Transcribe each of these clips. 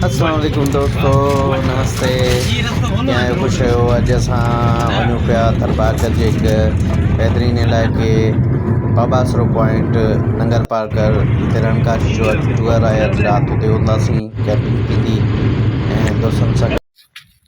السلام عليڪم دوستو نمستي ڪيئن آهيو خوش آهيو اڄ اسان وڃون پيا ٿرپارڪر جي هڪ بهترين علائقي باباسرو پوائنٽ ننگر پارڪر جتي رڻڪاش جو اڄ ٽوئر آهي اڄ رات اتي هونداسين ڪيمپنگ ٿيندي ۽ دوستن سان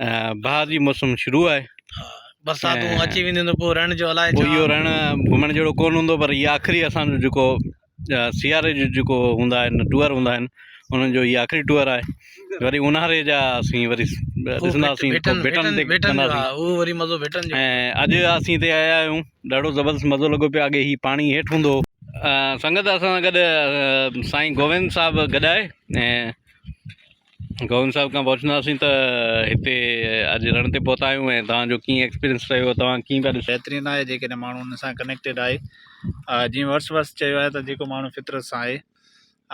بهار جي موسم شروع آهي برساتون اچي وينديون ته پوء رڻ جو الائي ڇا اهو رڻ گهمڻ جهڙو ڪونه هوندو پر هي آخري اسان جو جيڪو سياري جو جيڪو هوندا آهن ٽوئر هوندا آهن انهن جو هي آخري ٽوئر آهي وري اونهاري جا اسين وري ڏسنداسين ڀٽن تي ڀٽن جو اهو وري مزو ڀٽن جو ۽ اڄ اسين هتي آيا آهيون ڏاڍو زبردست مزو لڳو پيو اڳي هي پاڻي هيٺ هوندو هو سنگت اسان سان گڏ سائين گووند صاحب گڏ آهي گووند صاحب کان پڇنداسين ته هتي اڄ رڻ تي پهتا آهيون ۽ توهان جو ڪيئن ايڪسپيرينس رهيو توهان ڪيئن پيا ڏسو. بهترين آهي جيڪڏهن ماڻهو ان سان ڪنيڪٽيڊ آهي جيئن ورس ورس چيو آهي ته جيڪو ماڻهو فطرت سان آهي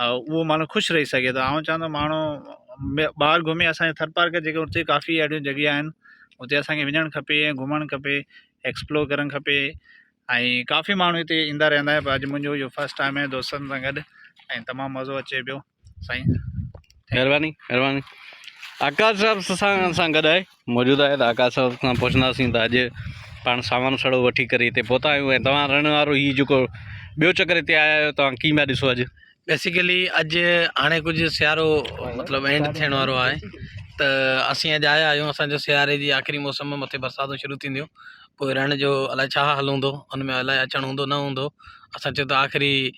اهو ماڻهو خوش رهي سگهي ٿو آئون چوندو ماڻهو ٻاهر گهمي اسانجي ٿر پارڪ جيڪي اتي ڪافي اهڙيون جڳهيون آهن اتي اسانکي وڃڻ کپي ۽ گهمڻ کپي ايڪسپلور ڪرڻ کپي ۽ ڪافي ماڻهو هتي ايندا رهندا آهن پر اڄ منهنجو اهو فسٽ ٽائيم آهي دوستن سان گڏ ۽ تمام مزو اچي پيو سائين مهرباني مهرباني آڪاش صاحب سان سان گڏ آهي موجود آهي ته آڪاش صاحب کان پڇنداسين ته اڄ پاڻ سامان سڙو وٺي ڪري هتي پهتا آهيون ۽ توهان رهڻ وارو هي جيڪو ٻيو چڪر هتي آيا آهيو توهان ڪيئن پيا ڏسو اڄ بيسيڪلي اڄ هاڻي ڪجهه سيارو مطلب اينڊ ٿيڻ وارو آهي ته اسين اڄ آيا آهيون اسانجو سياري جي آخري موسم ۾ مٿي برساتون شروع ٿينديون پوء رهڻ جو الاء ڇا حال هوندو ان ۾ الاء اچڻ هوندو نه هوندو اسان چيو ته آخري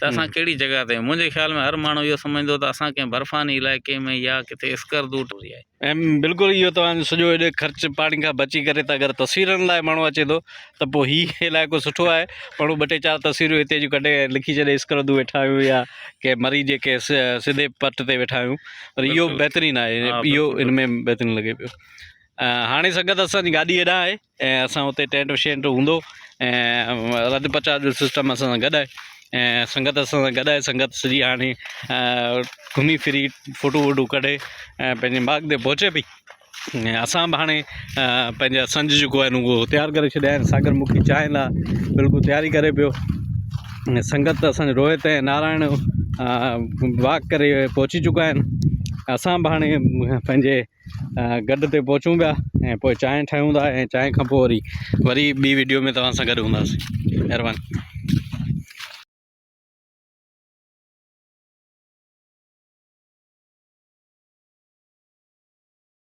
ته اسان ڪهڙي جڳهه تي آهيون. منهنجي خيال ۾ هر ماڻهو اهو سمجهندو ته اسان ڪنهن برفاني علائقي ۾ يا ڪٿي اسڪردو ٽي وي آهي. ايم بلڪل اهو توهان جو سڄو ايڏي خرچ پاڻي کان بچي ڪري ته اگر تصويرن لاء ماڻهو اچي ٿو ته پوء هي علائقو سٺو آهي ماڻهو ٻه ٽي چار تصويرون هتي جون ڪڍي لکي ڇڏي اسڪردو ويٺا آهيون يا ڪنهن مري جي ڪنهن سڌي پٽ تي ويٺا آهيون پر اهو بلڪل بهترين آهي اهو ان ۾ بهترين لڳي پيو هاڻي سنگت اسان جي گاڏي هيڏانهن آهي ۽ اسان اتي ٽينٽ شينٽ هوندو ۽ رڌ پچاء جو سسٽم اسان سان گڏ آهي ۽ سنگت اسان سان گڏ آهي سنگت سڄي هاڻي گهمي ڦري فوٽو ووٽو ڪڍي ۽ پنهنجي ماڳ تي پهچي پئي ۽ اسان به هاڻي پنهنجا سنج جيڪو آهن اهو تيار ڪري ڇڏيا آهن ساگر مکي چانهه لا بلڪل تياري ڪري پيو ۽ سنگت اسان روهت ۽ نارائڻ واڪ ڪري پهچي چڪا آهن اسان به هاڻي پنهنجي گڊ تي پهچون پيا ۽ پوء چانهه ٺاهيون ٿا ۽ چانهه کان پوء وري وري ٻي ويڊيو ۾ توهان سان گڏ هونداسين مهرباني